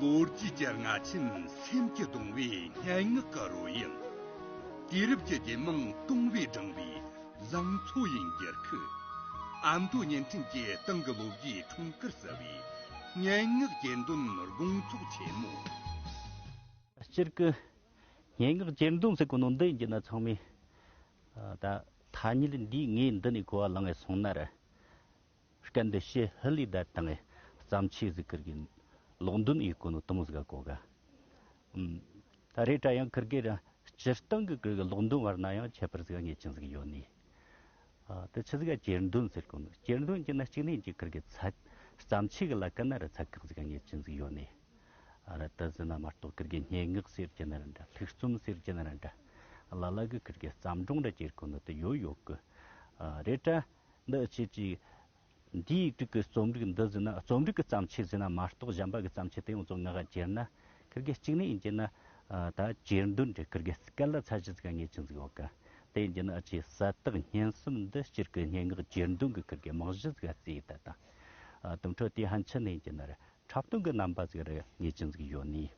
ལོ་རྒྱུས་ཀྱི་རྔ་ཆེན་སེམས་ཀྱི་གདུང་བའི་སྙན་ངག་གི་རོལ་དབྱངས། དུས་རབས་ཀྱི་རྒྱལ་མང་སྟོང་བས་བསྒྲེངས་པའི་ལང་ཚོ་ཡི་འགྱུར་ཁུག། ཨ་མདོ་བརྙན་འཕྲིན་གྱི་ཏང་གི་ལོ་བརྒྱའི་འཁྲུངས་སྐར་གསལ་བའི་སྙན་ངག་གྱེར་འདོན་དགོང་ཚོགས་ཆེན་མོ། སྤྱིར་སྐུ་སྙན་ངག་གྱེར་འདོན་ཟེར་གོ་ནོ་འདི་ཡིན་གྱི་ན་ཚང་མས་ད་ཐ་སྙད་འདིའི་ངའི་འདི་ནས་གོ་བ་ལང་བས་སོང་ན་རེ་སྐད་འདི་ཤེས་ཧི་ལི་དད་དང་ཨེ། བརྩམས་ཆོས་གཟིགས་ཀིར་གིན། ལོག་འདོན་ཨི་ཀོ་ནོ་ཏོང་ཟིག་གོ་ག། ད་རེས་ཀྲ་ཡང་ཀིར་གིར་ར། སྤྱིར་བཏང་གི་ཀིར་གི་ལོག་འདོན་བར་ན་ཡང་ཁྱད་པར་ཟིག་ངེས་ཅན་ཟིག་ཡོད་ནི། དེ་ཆི་ཟིག་ག་གྱེར་འདོན་ཟེར་ཀོ་ནོ། གྱེར་འདོན་གྱི་ན་གཅིག་ནས་གཅིག་ཀིར་གི་ཚ། བརྩམས་ཆོས་གི་ལ་ཀ་ན་ར་ཚ་ཁག་ཟིག་ག་ངེས་ཅན་ཟིག་ཡོད་ནི། ར་ད་ཟིན་ན་མ་གཏོགས་ཀིར་གི་སྙན་ངག་ཟེར་གྱི་ན་ར་འདྲ་ལྷུག་རྩོམ་ཟེར་གྱི་ན་ར་འདྲ། ལ་ལ་གི་ཀིར་གི་བརྩམས་སྒྲུང་ར་གྱེར་ཀོ་ནོ་ཏི་ཡོད་ཡོད་ཀི། རེད་ཀྲ། འདི་ཨི་ཕྱིར་ཅིག། འདིའི་ཡིག་དྲུག་གི་རྩོམ་རིག་འདི་ཟིན་ན་རྩོམ་རིག་གི་བརྩམས་ཆོས་ཟིན་ན་མ་གཏོགས་གཞན་པ་གི་བརྩམས་ཆོས་དེ་ཡོངས་རྫོགས་ངག་དབྱངས་ཅེར་ན། ཁིར་གི་གཅིག་ནི་ཡིན་གྱི་ན། ད་ཅེར་འདོན་དྲི་ཁིར་གི་སྐད་ལ་ཚ་བཞི་ཚིག་ངེས་ཅན་ཟིག་འོག་གི། དེ་ཡིན་གྱི་ན་ཨི་ཆི་གསལ་དག་སྙན་གསུམ་འདི་སྤྱིར་གི་སྙན་ངག་ཅེར་འདོན་གི་ཁིར་གི་མག་བཞི་ཚིག་ཨ་ཙི་ད་དང། དུམ་འཕྲོ་དེའི་ཧན་ཆི་ནི་ཡིན་གྱི་ནར་འཁྲབ་སྟོན་གི་རྣམ་པ་ཟིག་རི་ངེས་ཅན་ཟིག་ཡོད་ནིས།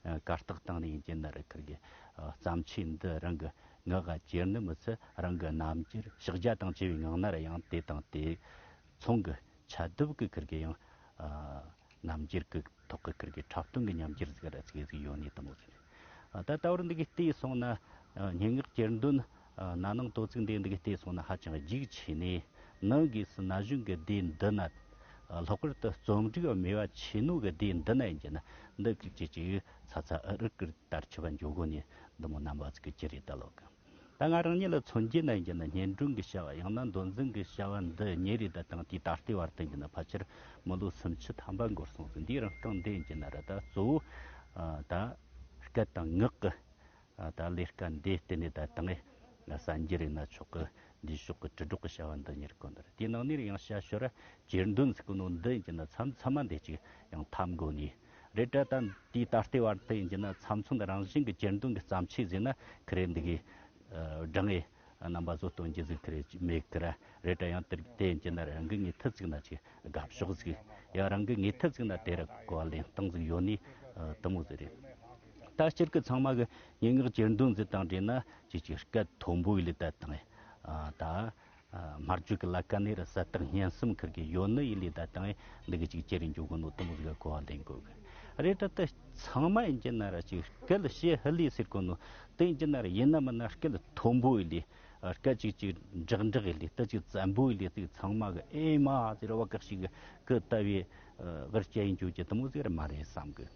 བཀའ་རྟགས་བཏང་ནས་ཡིན་གྱི་ནི་རི་ཁུལ་གྱི་བརྩམས་ཆོས་འདི་རང་གི་ངག་གི་གྱེར་ནུབ་མི་ཚེ་རང་གི་རྣམ་དཔྱོད་ཕྱག་རྒྱ་དང་བཅས་པའི་ངག་རྣར་ཡང་དེ་དང་དེ་མཚུངས་ཀྱི་ཕྱ་རྡུབ་ཀྱི་ཁུར་གྱིས་ཡང་རྣམ་དཔྱོད་ཀྱི་ཐོག་གི་ཁུར་གྱིས་འཁྲབ་སྟོན་གྱི་ཉམས་གྱེར་ཟིག་ར་ཚིག་གི་ཡོད་ནི་དང་པོ་ཟིག་རེད། ད་ལྟ་བར་འདི་གའི་ལྟས་སོང་ན་སྙན་ངག་གྱེར་འདོན་ན་ནིང་དོ་ཚིགས་འདས་འདུག་གི་ལྟས་སོང་ན་ཧ་ཅང་རྒྱུགས་ཆེ་ནས་ནིང་དགོས་སུ་ན་གཞོན་གི་སྡེ་འདི་ན་ལྷག་པར་དུ་རྩོམ་སྒྲིག་མེད་བ་ཆེ་ནུ་གི་སྡེ་འདི་ན་ཡིན་གྱི་ན་འདི་སྐད་ཅིག་ཅིག་ཚ་ཚ་ཨི་རི་ཀིར་ལྟར་ཆུ་བ་འཇོག་དགོས་ནས་འདི་མོ་རྣམ་པ་ཚིག་གི་ཅི་རེད་ལྟ་ལོག་གི་ད་ང་རང་ཉིད་ལ་མཚོན་རྒྱུ་ན་ཡིན་གྱི་ན་སྙན་སྒྲོན་གི་བྱ་བ་ཡང་ན་མདོ་འཛིན་གི་བྱ་བ་འདི་གཉིས་རེད་ད་དང་དེའི་ད་ལྟའི་བར་དུ་ཡིན་གྱི་ན་ཕལ་ཆེར་མི་ལོ་སུམ་ཅུ་ཐམ་པ་འགོར་སོང་ཟིན་དུས་རང་རྐང་འདི་ཡིན་གྱི་ན་ར་ད་གཙོ་བོ་ད་སྐད་དང་ངག་གི་ད་ལས་ཀ་འདི་གཏན་ནས་ད་ལྟ་ངས་གསན་རྒྱུ་རེད་ན་ཆོག་གི་འདིའི་ཕྱོགས་ཀྱི་དྲིལ་སྒྲོག་གི་བྱ་བ་འདི་གཉེར་དགོས་འདི་རེད་དེའི་ནང་ནས་ཡང་བྱ་ཞོར་ར་གྱེར་འདོན་ཟེར་གི་ནོ་འདི་ཡིན་གྱི་ན་མཚམས་མཚམས་མ་འདི་ཅིག་ཡང་ཐམ་དགོས་ནི་རེད་དྲ་དང་དེའི་ད་ལྟའི་བར་དུ་ཡིན་གྱི་ན་མཚམས་མཚམས་རང་བཞིན་གྱི་གྱེར་འདོན་གྱི་བརྩམས་ཆོས་ཟེར་ན་ཁི་རེ་འདི་གི་དྲ་ངས་རྣམ་པ་བཟོ་སྟོང་ཇི་ཟིག་དེར་མེད་ཀི་ར་རེད་དྲ་ཡང་དེ་ཇི་ན་རང་གི་ངེས་ཐུ་ཟིག་ན་ཆི་དགའ་ཕྱོགས་ཟིག་ཡང་རང་གི་ངེས་ཐུ་ཟིག་ན་དེ་ར་གོ་བ་ལེན་སྟངས་ཟིག་ཡོད་ནི་དུ་མོ་ཟིག་རེད་ད་སྤྱིར་གི་ཚང་མ་གི་སྙན་ངག་གྱེར་འདོན་ཟིག་དང་བྲིས་ན་ཇི་ཆི་སྐད་མཐོན་པོ་ཡིད་ལས་དད་དང་ད་སྨར་བརྗོད་གི་ལ་ཀ་ནི་ར་སད་དང་སྙན་སེམས་འཁུར་གི་ཡོད་ནི་ཡིད་ལས་དད་དང་འདི་གི་ཅིག་ཅེ་རིང་འཇུག་གི་ནོ་དུ་མོ་ཟིག་གོ་བ་ལེན་དགོས་གི་རེད་དྲ་དེ་ཚང་མ་ཡིན་གྱི་ན་ར་ཆི་སྐད་ལ་ཤེས་ཧི་ལི་ཟིག་གི་ནོ་དེང་གི་ནར་ཡིན་ནམ་ན་སྐད་མཐོན་པོའི་ལས་སྐད་ཅིག་ཅིག་འགྲག་འགྲག་གི་ལས་སྟོད་ཅིག་བཙན་པོའི་ལས་ཚིག་ཚང་མ་གི་ཨེ་མ་ཟེར་ར་བ་ཀག་ཤིག་གི་ཀི་ལྟ་བུའི་ཝར་སྐྱེ་ཡིན་གྱུར་གྱི་དུ་མོ་ཟེར་ར་མ་རེད་བསམ་གི་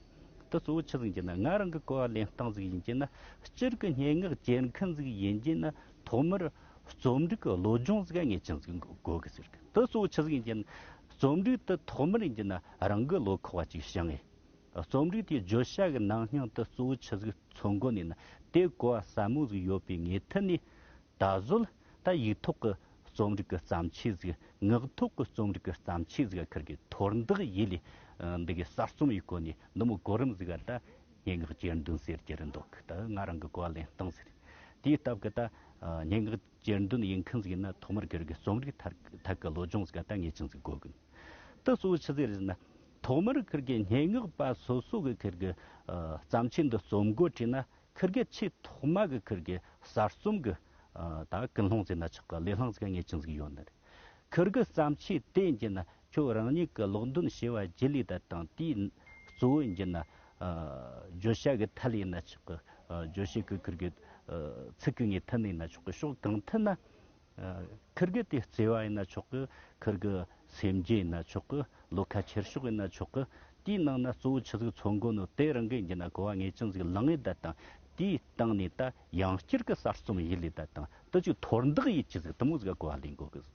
དུ་གཙོ་བོ་ཆི་ཟིན་གྱི་ན་ང་རང་གི་གོ་བ་ལེན་སྟངས་ཟིག་ཡིན་གྱི་ན་སྤྱིར་གི་སྙན་ངག་སྐྱེལ་མཁན་ཟིག་ཡིན་གྱི་ན་ཐོག་མར་རྩོམ་སྒྲིག་གི་བློ་སྦྱོང་ཟིག་ངེས་ཅན་ཟིག་དགོས་གི་ཟེར་གི་དུ་གཙོ་བོ་ཆི་ཟིག་ཡིན་གྱི་ན་རྩོམ་སྒྲིག་དུ་ཐོག་མར་ཡིན་གྱི་ན་རང་གི་བློ་ཁོག་བ་ཅིག་བྱ་ངེས། རྩོམ་རིག་དེ་བརྗོད་བྱ་གི་ནང་སྙིང་དུ་གཙོ་བོའི་ཆུ་ཟིག་ཚོ་མགོ་ནས་ནི་དེ་གོ་བ་ཟབ་མོ་ཟིག་ཡོད་པའི་ངེས་མཐུད་ནས། ད་གཟོད་ད་ཡིག་ཐོག་གི་རྩོམ་རིག་གི་བརྩམས་ཆོས་ཟིག་ངག་ཐོག་གི་རྩོམ་རིག་གི་བརྩམས་ཆོས་ཟིག་ཁུར་གི་ཐོར་འདེགས་ཡིད་ལས་འདི་གའི་གསར་རྩོམ་ཡི་སྐོར་ནས་ནུབ་མོ་གོ་རིམ་ཟིག་ག་ད་སྙན་ངག་གྱེར་འདོན་ཟེར་གྱི་རེད་འདུག་ད་ང་རང་གི་གོ་བ་ལེན་སྟངས་ཟིག་དེའི་སྟབས་གི་ད་སྙན་ངག། གྱེར་འདོན་ཡིན་མཁན་ཟིག་ན་ཐོག་མར་གྱེར་གི་རྩོམ་རིག་ཐག་གི་བློ་སྦྱོང་ཟིག་ད་ངེས་ཅན་ཟིག་དགོས་གི་འདུག་ད་གཙོ་བོ་ཆི་ཟིག་རེད་ཟིག་ན་ཐོག་མར་གྱེར་གི་སྙན་ངག་པ་སོ་སོ་གི་གྱེར་གི་བརྩམས་ཆོས་འདི་རྩོམ་དགོས་བྲིས་ན་གྱེར་གི་ཆེས་ཐོག་མ་གི་གྱེར་གི་གསར་རྩོམ་གི་ད་ཀུན་སློང་ཟིག་ན་ཆག་གི་ལས་སླང་ཟིག་ངེས་ཅན་ཟིག་ཡོད་ནི་རེད་གྱེར་གི་བརྩམས་ཆོས་དེ་ཡིན་གྱི་ན་ཁྱོད་རང་ཉིད་ཀྱི་ལོག་འདོན་བྱས་པ་བརྗེ་ལེ་ད་དང་དེའི་གཙོ་བོའི་མཇུག་ན། བརྗོད་བྱ་གི་མཐའ་ལས་ན་ཆོག་གི་བརྗོད་བྱའི་གོས་ཁུར་གྱི། ཚིག་གི་ངེས་མཐའ་ནས་ན་ཆོག་གི་ཕྱོགས་གང་ཐད་ན། ཁུར་གྱི་དེ་བརྩེ་བ་ཡིན་ན་ཆོག་གི་ཁུར་གྱི་སེམས་རྒྱུད་ཡིན་ན་ཆོག་གི་བློ་ཁ་ཁྱེར་ཕྱོགས་ཡིན་ན་ཆོག་གི། དེའི་ནང་ན་གཙོ་བོ་ཆུ་ཟིག་མཚོ་མགོ་ནོ་དེ་རང་གི་མཇུག་ན་གོ་བ་ངེས་ཅན་ཟིག་ལང་ལེ་ད་དང་དེའི་སྟེང་ནས་ད་ཡང་སྤྱིར་གྱི་གསར་རྩོམ་ཡིད་ལེ་ད་དང་དུ་ཅིག་དོར་འདག་ཡིད་ཀྱི་ཟིག་དུ་མོ་ཟིག་གོ་བ་ལེན་དགོས་གི།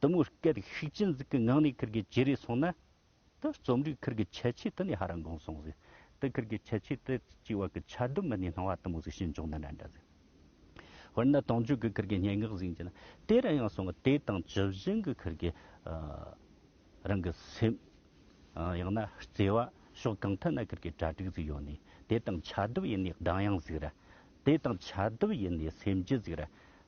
དུ་མོའི་སྐད་ཤུགས་ཅན་ཟིག་གི་ངག་ནས་ཁིར་གི་ཇི་རེ་སོང་ན། དེ་རྩོམ་རིག་ཁིར་གི་ཁྱད་ཆོས་དེ་ནས་ཧ་ར་འགོང་སོང་ཟིག། དེ་ཁིར་གི་ཁྱད་ཆོས་དེ་གཅིག་བར་གི་ཆ་དུ་མི་ནས་སྣང་བ་དུ་མོ་ཟིག་ཤེས་འབྱུང་ན་ན་འདྲ་ཟིག། དཔེར་ན་དུང་ཆོས་ཀྱི་ཁིར་གི་སྙན་ངག་ཟིག་འབྱིན་ན་དེ་རང་ཡང་སོང་ངོ་དེ་དང་ཇི་བཞིན་གྱི་ཁིར་གི། རང་གི་སེམས། ཡང་ན་བརྩེ་བ་ཕྱོགས་གང་ཐད་ན་ཁིར་གི་གྲ་སྒྲིག་ཟིག་ཡོད་ནས་དེ་དང་ཆ་བསྡུ་ཡིན་ནས་གདངས་དབྱངས་ཟིག་ར། དེ་དང་ཆ་བསྡུ་ཡིན་ནས་སེམས་རྒྱུད་ཟིག་ར།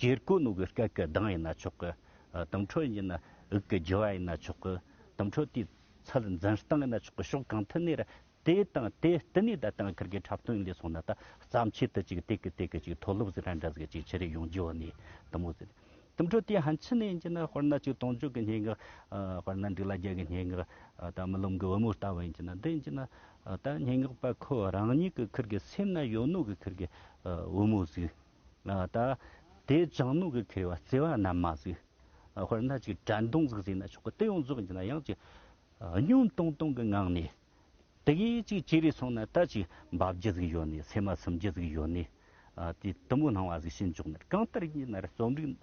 གྱེར་སྐུ་ནུ་གི་སྐད་ཀྱི་གདངས་ཡིན་ན་ཆོག་གི། དུམ་འཕྲོ་ཡིན་ན་དབུགས་ཀྱི་རྒྱུ་བ་ཡིན་ན་ཆོག་གི། དུམ་འཕྲོ་དེའི་ཚད་འཛིན་སྟངས་ཡིན་ན་ཆོག་གི་ཕྱོགས་གང་མཐུན་ནས་རེད། དེ་དང་དེ་ལྟེ་གནས་བརྡ་དང་ཁུར་གྱི་འཁྲབ་སྟོན་ལས་སོང་ན་ད་བརྩམས་ཆོས་དེ་གཅིག་དེ་གི་དེ་གི་གཅིག་མཐོ་སློབ་ཟིག་ར་འདྲ་ཟིག་གཅིག་ཕྱི་རིགས་ཡོངས་རྒྱུ་བ་ནས་དུམ་བུ་ཟིག་དུམ་འཕྲོ་དེ་ཧན་ཕྱི་ནས་ཡིན་གྱི་ན་དཔེར་ན་གཅིག་དུང་ཕྱུགས་ཀྱི་སྙན་ངག་དཔེར་ན་འབྲི་ལ་རྒྱལ་གྱི་སྙན་ངག་ད་རྨི་ལམ་གྱི་བུ་མོ་ལྟ་བུ་ཡིན་གྱི་ན་འདི་ཡིན་གྱི་ན་ད་སྙན་ངག་པ་ཁོ་རང་ཉིད་ཀྱི་ཁུར་གྱི་སེམས་ན་ཡོད་ནུ་གི་ཁུར་གྱི་བུ་མོ་ཟིག་ད་དེ་ལྗང་ནུ་གི་ཁེར་བ་བརྩེ་བ་རྣམས་མ་གཟིགས། དཔེར་ན་ཅིག་དགྲ་མདུང་གཟིགས་ཟིན་ན་ཆོག་གི་དེ་ཡང་རྫོགས་ཀྱི་ན་ཡང་ཅིག། སྙུན་གཏོང་གཏོང་གི་ངང་ནས། དེ་གས་ཅིག་ཅི་རིགས་སོང་ན་ད་ཅིག་འབབ་རྒྱུ་ཟིག་ཡོད་ནས་ཚེར་མ་ཚིམ་རྒྱུ་ཟིག་ཡོད་ནས། དེ་དུམ་བུ་སྣང་བ་ཟིག་ཤེས་འཇོག་ནས་གང་ལྟར་གྱིས་ན་རྩོམ་རིག་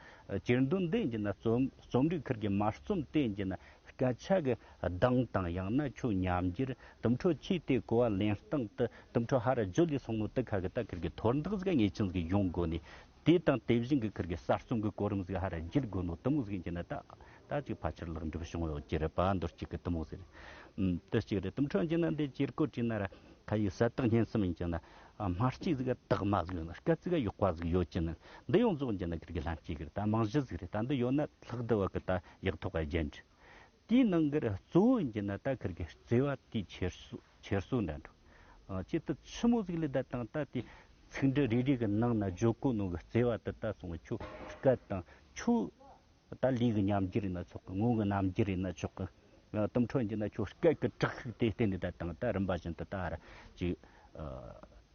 གྱེར་འདོན་ལྡན་གྱི་ན་རྩོམ་རིག་ཁུར་གྱི་མ་རྩོམ་བསྟན་གྱི་ན་སྐད་ཆ་གི་གདངས་དང་ཡང་ན་ཆུ་མཉམ་རྒྱུར་དུམ་འཕྲོ་ཆུའི་དེ་གོ་བ་ལེན་སྟངས་དུ་དུམ་འཕྲོ་ཧ་ར་རྗོ་ལི་སོགས་མུ་ཏིག་ཁ་གི་ཏཱ་ཁིར་གི་ཐོར་འདེགས་གཟུགས་ངེས་ཅན་གྱི་གཞུང་བཀོད་ནས་དེ་དང་དེ་བཞིན་གྱི་ཁིར་གྱི་གསར་རྩོམ་གྱི་གོ་རིམ་གཟུགས་ཧ་ར་རྗེར་བཀོད་ནོ་དུམ་གཟུགས་ཅན་ནི་ཏཱ་ཏཱ་ཅིག་ཕ་ཆེར་ལེགས་འགྲུབ་བྱུང་བའི་འོད་ཀྱི་རེད་པ་མདོར་བསྐྱེད་ཀྱི་དུམ་གཟུགས་རེད། དུ་གཅིག་རེད་དུམ་འཕྲོ་ཅན་ནི་འདི་ཅེར་བཀོད་བྲིས་ན་ར་ཁ་ཡིག་གསལ་དག་སྙན་གསུམ་ཡིན་ཅིང་ན་སྨྲ་སྐྱིད་གཟུགས་ཀྱི་དག་མ་གཟུགས་ཡོད་ན་སྐད་ཚིག་གཡོག་པ་གཟུགས་ཡོད་ཅིང་ན་འདི་ཡོངས་རྫོགས་ཅན་ནི་ཁིར་གྱི་ལྷན་སྐྱེས་ཀྱི་རེད་ད་རྨང་གཞི་གཟུགས་རེད་ད་འདི་ཡོད་ན་ལྷག་བསྡུ་བ་གྱི་ད་ཡག་ཐོག་ག་རྒྱན་འགྲིག། དེའི་ནང་གི་གཙོ་བོ་ཡིན་གྱི་ནི་ད་ཁར་གྱི་བརྩེ་བ་དེའི་ཁྱེར་སོ་ཁྱེར་སོ་འདྲ་འདྲ། ཅི་སྟེ་ཆུ་མོ་ཟིག་ལས་ད་དང་ད་དེ་ཚིག་འབྲུ་རེ་རེ་གི་ནང་ན་ཇོ་ཀོ་ནོ་གི་བརྩེ་བ་དེ་ད་སོང་བའི་ཆུ་སྐད་དང་ཆུ། ད་ལུས་ཀྱི་ཉམས་འགྱུར་ཡིན་ན་ཆོག་གི་ངོ་བོའི་རྣམ་འགྱུར་ཡིན་ན་ཆོག་གི། གཏུམ་འཕྲོ་ཡིན་གྱི་ན་ཆོག་སྐད་ཀྱི་དྲག་ཤུགས་དེ་གཏན་ནས་ད་དང་ད་རིམ་པ་བཞིན་དུ་ད་ཧར་གྱི།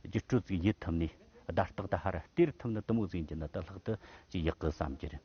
རྒྱུ་སྤྲོས་ཚིག་ཡིད་ཐུབ་ནས་བརྡ་རྟགས་ད་ཧར་དེར་ཐུབ་ན་གཏུམ་མོ་ཟིག་ཡིན་གྱི་ན་ད་ལྷག་ཏུ་ཅི་ཡག་གི་བསམ་གྱི་རེད།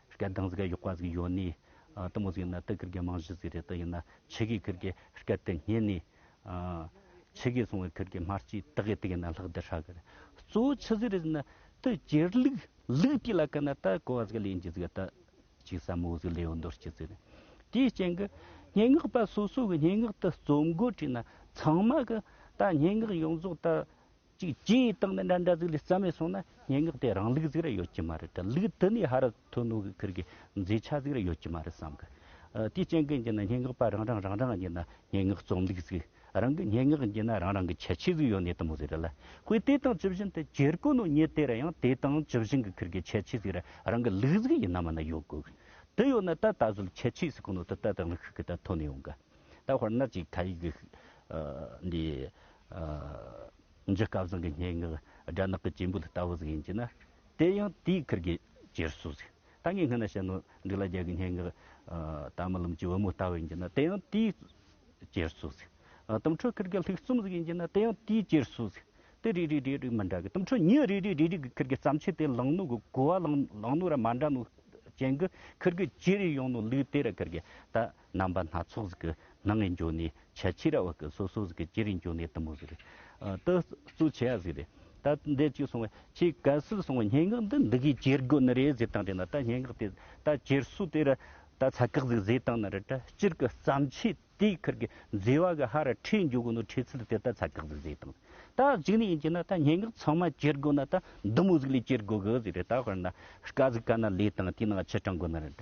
སྐད་གདངས་ཟེར་ག་ཡོག་པ་ཟིག་ཡོད་ནི་ཏི་མོ་ཟིག་ཡིན་ན་ཏི་ཀིར་གི་རྨང་གཞི་ཟིག་རེད་ཏི་ཡིན་ན་ཆེ་གེ་ཀིར་གི་སྐད་དེ་སྙན་ནི་ཆེ་གེ་སོང་བའི་ཀིར་གི་སྨར་གྱིས་ཏི་གེ་ཏི་ཡིན་ན་ལྷག་དེ་ཧྲ་གི་རེད་གཙོ་བོ་ཆི་ཟིག་རེད་ཟིག་ན་ཏི་ཀིར་ལུག་ལུག་དེ་ལ་ཀི་ན་ཏི་ཀོ་བ་ཟིག་ལེན་གྱི་ཟིག་གི་ཏི་ཅིག་ཟ་མོ་ཟིག་ལེ་ཡོ་འདོར་གྱི་ཟིག་རེད་དེའི་རྐྱེན་གི་སྙན་ངག་པ་སོ་སོ་གི་སྙན་ངག་ཏི་རྩོམ་འགོ་བྲིས་ན་ཚང་མ་གི་ཏི་སྙན་ངག་ཡོངས་རྫོགས་ཏི་གཅིག་སྤྱི་ཡི་སྟེང་ནས་འདྲ་འདྲ་ཟིག་ལས་རྩ་མེད་སོང་ན་སྙན་ངག་དེ་རང་ལུགས་ཟིག་རེ་ཡོད་ཀྱི་མ་རེད་དྲ་ལུགས་དེ་ནི་ཧ་ར་ཐོན་ནོ་གི་ཁིར་གི་མཛེས་ཆ་ཟིག་རེ་ཡོད་ཀྱི་མ་རེད་བསམ་གི། དེའི་རྐྱེན་གྱིས་ནི་སྙན་ངག་པ་རང་རང་རང་རང་གིས་ནི་སྙན་ངག་རྩོམ་ལུགས་ཟིག་རང་གི་སྙན་ངག་གིས་ནི་རང་རང་གི་ཁྱད་ཆོས་ཟིག་ཡོད་ནི་དུ་མོ་ཟིག་རེད་ལ། ཁོས་དེ་དང་ཇི་བཞིན་དུ་གྱེར་དགོས་ནོ་ཉིད་དེ་རེ་ཡང་དེ་དང་ཇི་བཞིན་གི་ཁིར་གི་ཁྱད་ཆོས་ཟིག་རེ་རང་གི་ལུགས་ཟིག་ཡིན་ནམ་མིན་ཡོད་དགོས། དེ་ཡོད་ན་ད་ད་གཟོད་ཁྱད་ཆོས་ཟིག་གི་ནང་དུ་ད་ད་ལུགས་ཤིག་གི་ད་ཐོན་ཡོང་གི། ད་དཔེར་ན་ཅིག་ཐ་ཡིག་འདི་འཇིགས་སྐལ་བཟང་གི་སྙན་ངག་སྦྲ་ནག་གི་སྐྱེས་འབུལ་ལྟ་བུ་ཟིག་ཡིན་གྱི་ན། དེ་ཡང་དེའི་ཁུར་གྱི་རྗེས་སུ་ཟིག་ད་ངས་སྔ་ན་བཤད་ནོ་འཇིགས་ལ་རྒྱལ་གྱི་སྙན་ངག་དམ་ལམ་གྱི་བུ་མོ་ལྟ་བུ་ཡིན་གྱི་ན་དེ་ཡང་དེའི་རྗེས་སུ་ཟིག། དུམ་འཕྲོ་ཁུར་གྱི་ལྷུག་རྩོམ་ཟིག་ཡིན་གྱི་ན་དེ་ཡང་དེའི་རྗེས་སུ་ཟིག། དེ་རེ་རེ་རེ་རེ་མི་འདྲ་གི་དུམ་འཕྲོ་ཉིད་རེ་རེ་རེ་རེ་གི་ཁུར་གྱི་བརྩམས་ཆོས་དེ་ལང་ནུ་གི་གོ་བ་ལང་ནུ་ར་མ་འདྲ་མོ་ཅན་གྱི་ཁུར་གྱི་རྗེས་རེ་ཡོང་ནོ་ལུས་དེ་ར་ཁུར་གྱི་ད། རྣམ་པ་སྣ་ཚོགས་ཟིག་གི་ནང་ནས་འབྱོར་ནས་ཆ་ཕྱི་ར་བ་ཀི་སོ་སོ་ཟིག་གི་ཅི་རིགས་འབྱོར་ནས་དུ་མོ་ཟིག་རེད་ད་གཙུག་ཆེ་བ་ཟིག་རེད་ད་འདི་གཅིག་སོང་བས་ཁྱེད་ག་སུ་སོང་བས་སྙན་ངག་འདི་འདི་གིས་ཅེར་དགོས་ནི་རེད་ཟེར་སྟངས་དེ་ན་ད་སྙན་ངག་དེ་ད་ཅེར་སུ་དེ་ར་ད་ཚ་ཁག་ཟིག་བཟོས་སྟངས་ན་རེད་ད་སྤྱིར་གི་བརྩམས་ཆོས་དེའི་ཁར་གི་མཛེས་བ་གི་ཧ་ར་ཁྲིད་འཇུག་གི་ནོ་ཁྲིད་ཚུལ་དེ་ད་ཚ་ཁག་ཟིག་བཟོས་སྟངས་ད་གཅིག་ནས་ཡིན་གྱི་ན་ད་སྙན་ངག་ཚང་མ་ཅེར་དགོས་ན་ད་འདི་མོ་ཟིག་ལས་ཅེར་དགོས་གི་ཟིག་རེད་ད་དཔེར་ན་ཀ་ཟིག་ཀ་ན་ལས་དང་དེའི་ནང་ཕྱི་དྲང་དགོས་ན་རེད་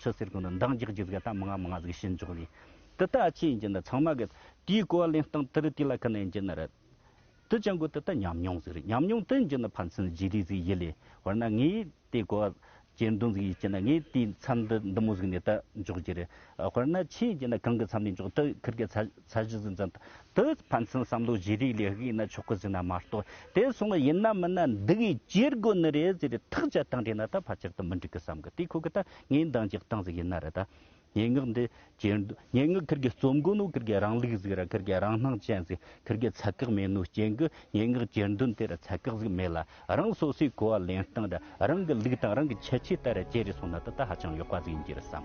ཆུ་སེར་ཀུན་ནི་མདངས་རྒྱག་རྒྱུ་ཟིག་ད་མི་ང་མི་ང་ཟིག་བྱེད་མགྱོགས་ལས། དུ་ལྟ་ཨ་ཆེ་ཡིན་གྱི་ན་ཚང་མ་གི། དེའི་གོ་བ་ལེན་སྟངས་དུ་རི་དེ་ལ་ཁི་ན་ཡིན་གྱི་ན་རི། དུ་ཅང་གོ་དུ་ལྟ་ཉམས་མྱོང་ཟིག་རི་ཉམས་མྱོང་དུ་ཡིན་གྱི་ན་ཕ་མཚན་བརྗེ་རེས་ཟིག་ཡིད་ལས་བར་ན་ངས་དེ་གོ་བ་གྱེན་འདོན་ཟིག་ཡིན་གྱི་ན་ངས་དེའི་མཚམས་དུ་འདི་མོ་ཟིག་ནས་དུ་འཇོག་རྒྱུ་རེད། དཔེར་ན་ཆེ་ཡིན་གྱི་ན་གང་གི་མཚམས་ནས་འཇོག་དུ་ཁིར་གི་ཚ། ཚད་གཞི་འཛིན་ཚད་དུ་ཕན་ཚུན་བསམ་བློ་བརྗེ་རེས་ལས་དགོས་ན་ཆོག་གི་ཟེར་ན་མ་གཏོགས་དེ་སོང་ཡིན་ན་མིན་ན་འདི་གིས་བརྗེ་དགོས་ནི་རེད་ཟེར་རེས་ཐག་བཅད་སྟངས་བྲིས་ན་ད་ཕར་ཆེར་དུ་མི་འགྲིག་གི་བསམ་གི་དེ་ཁོ་གི་ད་ངའི་འདང་རྒྱག་སྟངས་ཟིག་ཡིན་ན་རེད་ད། སྙན་ངག་འདི་བྲིས་འདུག་སྙན་ངག་ཁིར་གི་རྩོམ་དགོས་ནོ་ཁིར་གི་རང་ལུགས་ཟིག་རེད་ཁིར་གི་རང་སྣང་ཅན་ཟིག་ཁིར་གི་ཚད་བཀག་མེད་ནོ་རྐྱེན་གི་སྙན་ངག་བྲིས་འདུག་དེར་ཚད་བཀག་ཟིག་མེད་ལ། རང་སོ་སོའི་གོ་བ་ལེན་སྟངས་དང་རང་གི་ལུགས་དང་རང་གི་ཁྱད་ཆོས་ལྟར་བརྗེ་རེས་སོང་ན་ད་ལྟ་ཧ་ཅང་ཡག་པ་ཟིག་ཡིན་གྱི་རེད་བསམ།